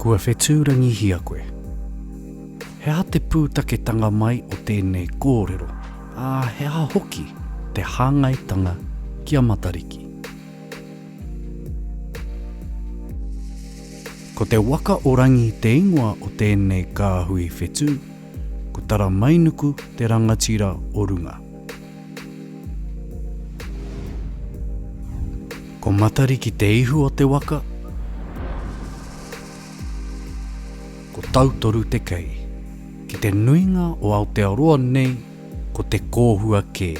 Kua whetūrangihia koe. He aha te pūtaketanga mai o tēnei kōrero, ā, he aha hoki te hāngaitanga ki a Matariki? Ko te waka o Rangi te ingoa o tēnei kāhui whetū, ko Taramainuku te rangatira o runga. Ko Matariki te ihu o te waka, ko Tautoru te kei. Ki te nuinga o Aotearoa nei ko te kōhua kē.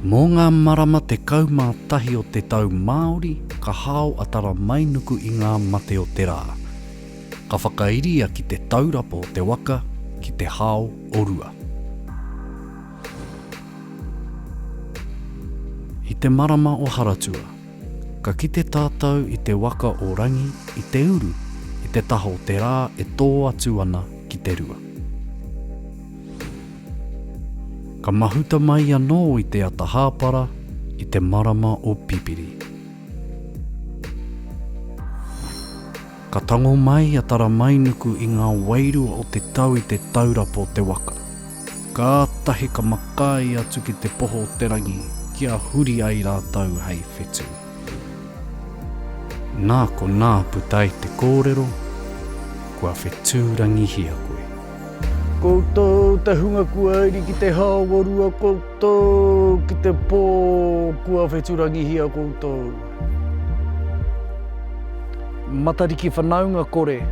Mō ngā marama 11 o te tau Māori ka hao a Taramainuku i ngā mate o te rā. Ka whakairia ki te taurapa o te waka ki te hao o Rua. I te marama o Haratua, ka kite tātou i te waka o Rangi i te uru i te taha o te rā e tō atu ana ki te rua. Ka mahuta mai anō i te ata hāpara i te marama o Pipiri. Ka tango mai a Taramainuku i ngā wairua o te tau i te taurapa o te waka. Kātahi ka makaī atu ki te poho o te rangi kia huri ai rātou hei whetū. Nā konā puta ai te kōrero, Kua whetūrangihia koe. Koutou te hunga kua iri ki te haorua koutou ki te po kua wheturangihia koutou. Matariki whanaunga kore,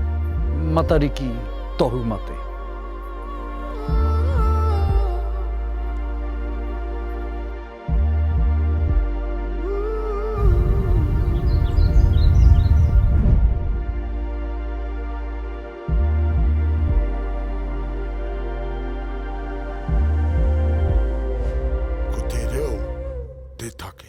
Matariki tohu mate. Ko te reo te take.